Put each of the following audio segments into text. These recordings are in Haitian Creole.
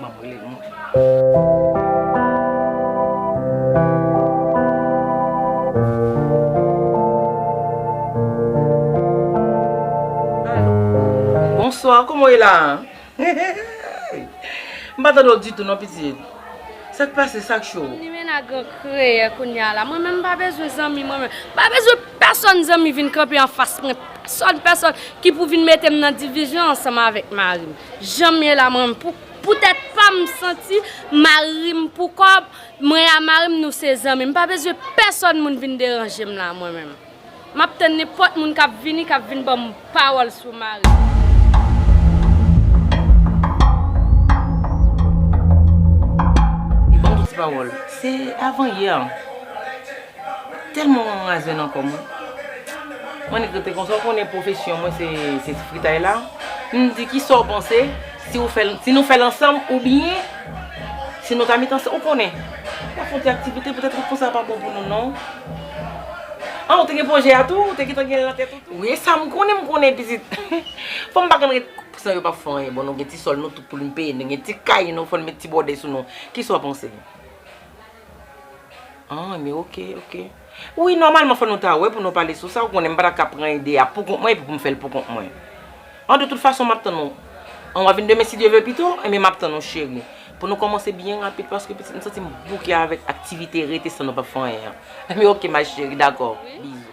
Map brele nou mwen. Bonsoir kòman ou ye la a? M pa tande w ditou non pitit. Sak pase sak cho w? Limena gran kreyè kounya la. Mwen menm m pa bezwen zanmi mwen menm. M pa bezwen pèsòn zanmi vin kanpe anfas mwen. Pèsòn pèsòn ki pou vin mete m nan divizyon ansanm avèk mari m. Janm ye la mwen pou tèt pam m santi marim pou kòb mwen a marim nou se zanmi m pa bezwen pèsòn moun vin deranje m la mwen menm map tann nenpòt moun kap vini kap vin banm pawòl sou marim. Banm yon ti pawòl se avan yè. Telman wè mwen aze nan kò mwen. Annik rete konsa ou konnen pwofesyon mwen se ti fritay la. M di ki sa w panse si w fè l si nou fè l ansanm oubyen si nou ta met ansanm ou konnen. Fè fon ti aktivite petèt fè fon sa pa bon pou nou non. An ou te gen pwojè a tou ou te gentan gen l nan tèt ou tou? Wi e sa m konnen m konnen pitit. Fanm pa konn ret san yo pa fè anyen. Bon nou gen ti sòl nou tou pou nou peye. Nou gen ti kay nou fò n met ti bòdè sou nou. Ki sa w panse? An, men ok, ok. Wi, nòmalman fò nou ta wè pou nou pale sou sa, ou konnen m pa ta ka pran ide a poukont mwen epi pou m fè l poukont mwen. An de tout fason m ap tann ou. An w'a vin demen si Dye vle pito? Enben m ap tann ou cheri. Pou nou kòmanse byen rapid paske pitit m santi m bouke avèk aktivite rete san nou pap fè anyen an. Enben ok ma cheri, dakò. Bizou.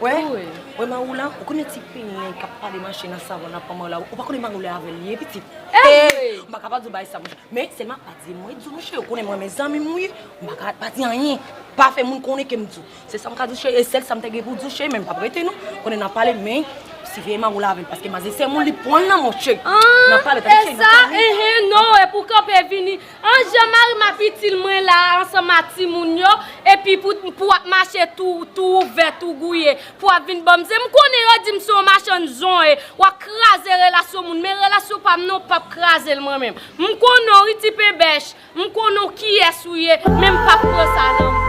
Wè wè Maou la ou konnen ti pelen kap pale mache nan savon nan pran Maou la ou pa konnen Maou lè avèl liye pitit ee m paka pa di w bagay sa mouche men sèlman pa di mwen di w mouche ou konnen m renmen zanmi m wi m paka pa di anyen pa fè moun konnen ke m di w se sa m ka di w cheri e sèl sa m te gen pou di w cheri men m pap rete non konnen nan pale men siveye Maou la avèl paske mazi se moun li pran nan mouche nan pale tande cheri nan pale. An Jean Marie map itil mwen la ansanm a timoun yo epi pou wap mache tou ouvè tou gouye pou wap vin banm zen m konnen yo dim se yon machann zon e wap kraze relasyon moun men relasyon pam nan ou pap krazel mwen menm m konnen w wi ti penbèch m konnen w kiyès ou ye men m pap pran sa nan menw.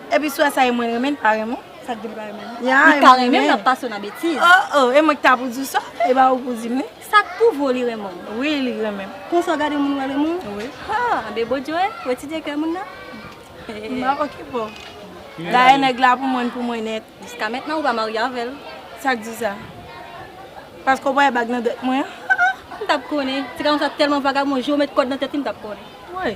Epi swa sa e mwen renmen li pa renmen. Sa k di li pa renmen li? Li pa renmen l ap pase w nan betiz. Oh oh e mwen ki ta pou di w sa e pa ou pou di m li. Sa k pou vo li renmen w? Wi li renmen m. Konsa w gade moun w al renmen w? Wi. Ha anben bon Dye wè wè ti dye kè moun nan. M ap okipe w. Dayè nèg la pou mwen n pou mwen nèt. Jiska mentnan ou pa marye avè l. Sa k di w sa? Paske w pa wè bag nan dwèt mwen an? Ha! M t ap konnen. Ti gason sa tèlman vagabon je w met kòd nan tèt li m t ap konnen. Woy!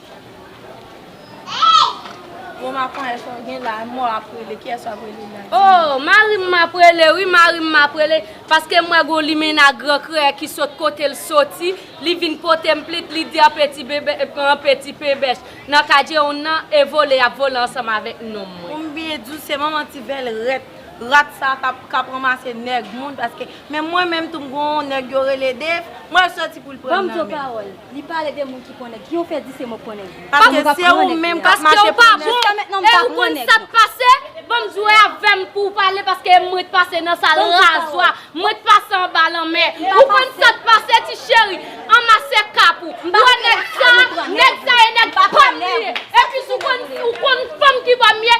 Bon ma konye sa w gen la m w ap rele kiyès wap rele la di m. Oh marim map rele wi marim map rele paske m wè gon limena gran kreyè ki sot kote l soti li vin pote m plit li di anpe ti bebe e pran anpe ti pebèch nan kadjeonn nan e vole yap vole ansanm avèk nonm mwen. Pou m byen di w se manman ti velrèt rat sa kap ranmase nèg moun paske men mwen menm tou m gon nèg yo rele Dave m wè l soti pou l pran m nan men l. Li pale de moun ki pran nèg. Ki yon fè di se mwen k pran nèg. Paske se ou menm k ap mache pou nèg. Paske ou pa bon e ou konn sa k pase. Banm jwe avè m pou ou pale paske e mwen t pase nan sal razwa. Mwen t pase anba lanmè. Ou konn sa k pase ti cheri. Anmase kap ou. Ou wè nèg sa a? Nèg sa e nèg pa m li ye. Epis ou konn fanm ki ba m ye?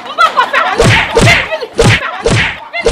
M poko fè anyen vin vin vin vin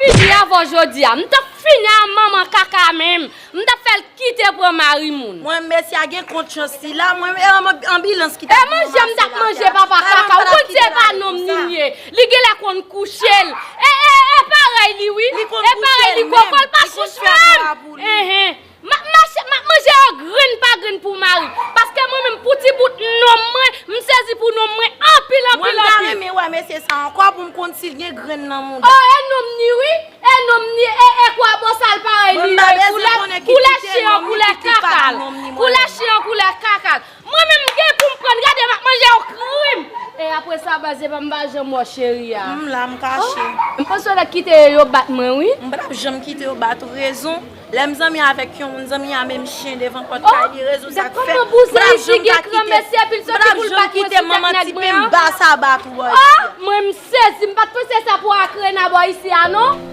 vin fini avèw jodia m tap fini a manman kaka menm m tap fèl kite pran mari moun. Mwen mèsi a gen kont chans sila mwen e anbilans ki tap vin ranmase la a. E manje m tap manje papa kaka ou konn se pa nonm Ninie li genlè konn kouchel e e e parèy li wi e parèy li kòkòl pa chich menm. Map mache, map manje yo grenn pa grenn pou mari. Paske mwen menm pou ti bout nonm mwen, m sezi pou nonm mwen anpil anpil anpil. Mwen ta renmen wè mesye sa ankò pou m konn si l gen grenn nan mouda. Oh e nonm ni wi, e nonm ni e e kwa bosal parèy li yo e koulè koulè chen an koulè kaka l, koulè chen an koulè kaka l. Mwen menm m gen poum prann gade map manje yon krim. E apre sa baz epa m pa janm wè w cheri a. M la m kache. M panse w ta kite yo bat mwen wi. M patap janm kite yo bat ou rezon lèm zanmi avèk yon moun zanmi a menm chyen devan pòt kay li rezon sak fè m patap janm ka kite m patap janm kite manman ti pim ba sa bat ou bò isi a. Mwen m sezi m pat panse sa pou akrena bò isi a non.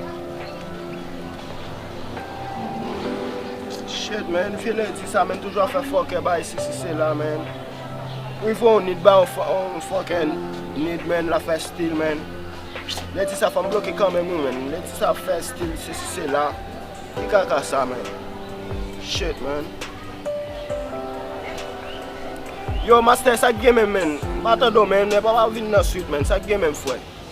Shit man, file di sa men toujou ap fè fòkè bay si si se la man Ou rive yon nid bay yon fòkè nid man la fè stil man Lè di sa fòm bloke kanmenm wi man Lè di sa ap fè stil si si se la Ki kaka sa man Shit man Yo master sak gen menm man M pa tande w man Epa wap vin nan swit man Sak gen menm fwèt